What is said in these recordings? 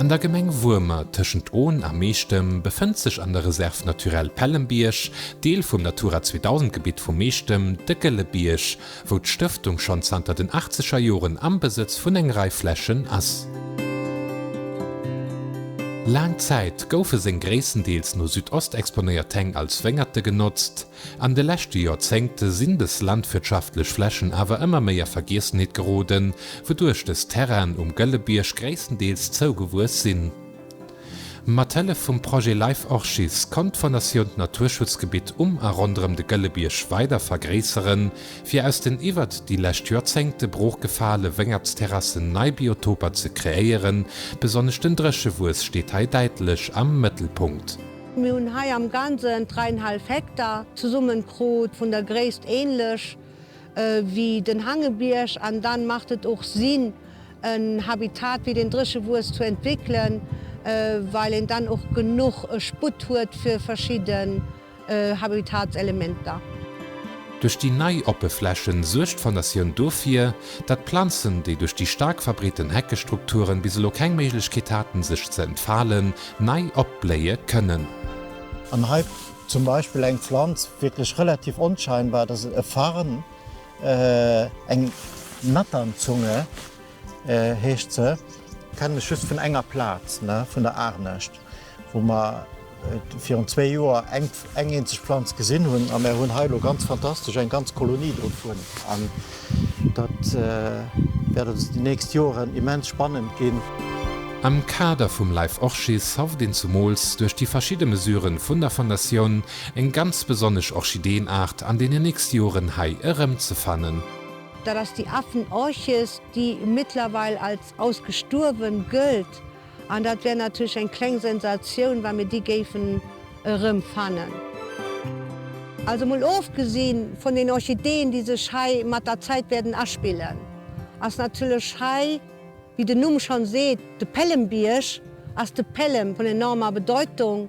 An der Gemeng Wuermer tëschent Ohn a Meechtem befënnt sech an der Réserve naturelle Pellembierg, Deel vum Natura 2000 Gebitt vu Meechtem, de Gëlle Bierg, wou d'Stëftung schonn zanter den achtzeger Joren am Besëtz vun eng Rei Flächen ass. Laang Zäit goufe seng gréisstendeels no Südost exponéiert Häng als Wéngerte genotzt. An de leschte Joerzéngte sinn des landwirtschaftlech Flächen awer ëmmer méi a Vergiessenheet geroden, wouduerch des Terrainen um Gëllebierg gréisstendeels zougewuess sinn. Mat Hëllef vum Projet Life Orchis konnt d'Fondatioun d'Naturschutzgebitt um a ronderëm de Gëllebierg weider vergréisseren, fir aus den iwwert déi lescht Joerzéngte brooch gefale Wéngertsterrassen nei Biotoper ze kreéieren. Besonnesch den Dréchewuess steet hei däitlech am Mëttelpunkt. Mir hunn hei am Ganzen 3,5 Hektar zesummenkrut, vun der Gréisst ähnlech wéi den Hangebierg, an dann macht et och Sinn en Habitat wéi den Dréchewues zu entwéckelen, well een dann och genuch Sputt huet fir verschidden Habitatselementer. Duerch déi nei oppe Flächen suergt d'Fondatioun dofir, dat Planzen, déi duerch déi staark verbreeten Heckestrukturen bis elo keng Méiglechkeet haten sech ze entfalen, Nei opbléie kënnen. An hei zum Beispill eng Pflanz, wierklech relativ onscheinbar, dat ass e Farn, eng Natternzunge heescht se, kennen ech just vun enger Plaz, vun der Aarnescht, wou mer virun zwee Joer eng. eng eenzeg Planz gesinn hunn a mär hunn hei elo ganz fantastesch eng ganz Kolonie dovun an dat wäert ons déi nächst Joren immens spannend ginn. Am Kader vum Life Orchis hofft een zumools duerch déi verschidde Mesuren vun der Fondatioun eng ganz besonnesch Orchideenart an deenen nächste Joren hei erëmzefannen. Dat ass déi Affenorchis, déi mittlerweil als ausgestuerwen gëllt An dat wär natierlech eng kleng Sensatioun, wa mir déi géifen erëmfannen. Also mol ofgesi vun den Orchideeën, déi sech hei mat der Zäit wäerten aspillen, ass natierlech hei, wéi den Numm schonn seet, de Pälembierg, ass de Pälem vun enormer Bedeutung.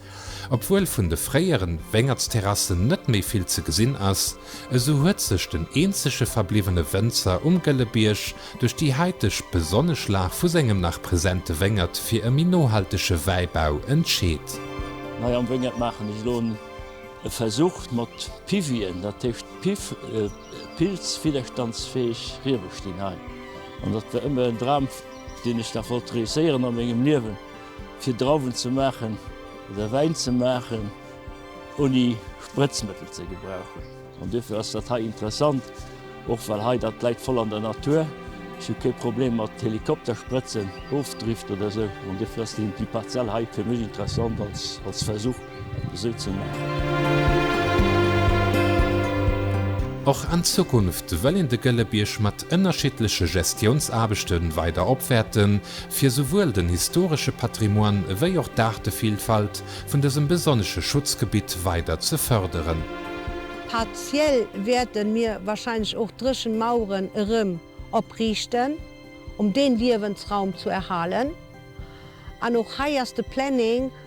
Obwuel vun de fréieren Wéngertsterrassen net méi vill ze gesinn ass, esou huet sech den eenzege verbliwwene Wënzer um Gëlle Bierg duerch déi haiteg besonnesch Lag vu sengem nach presente Wéngert fir e méi nohaltege Wäibau entscheet. Hei am Wéngert maachen ech elo e Versuch mat Pivien, dat heescht Piv, pilzwidderstandsfäeg Riebe stinn hei. An dat war ëmmer en Dram, deen ech nach wollt reusséieren a mengem Liewen. Fir Drauwen ze maachen oder Wäin ze maachen ouni Sprëtzmëttel ze gebrauchen. An duerfir ass dat hei interessant, och well hei dat läit voll an der Natur. Ech hu kee Problem mat Helikoptersprëtzen, Ofdrift oder esou. An duerfir ass déi Parzell hei fir mech interessant als Versuch. et esou ze maachen. Och an Zukunft wëll een de Gëlle Bierg mat ënnerschiddleche Gestiounsaarbechte weider opwäerten, fir souwuel den historesche Patrimoine ewéi och d'Aartevillfalt vun dësem besonnesche Schutzgebitt weider ze fërderen. Partiell wäerten mir wahrscheinlech och dréchen Maueren erëm opriichten, um deen Liewensraum zu erhalen. An och hei ass de Planning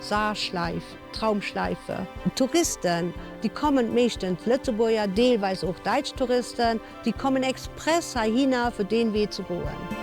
Saarschläif, Traumschläife. Touristen, déi kommen, meeschtens Lëtzebuerger, deelweis och däitsch Touristen, déi kommen express heihinner fir deen Wee ze goen.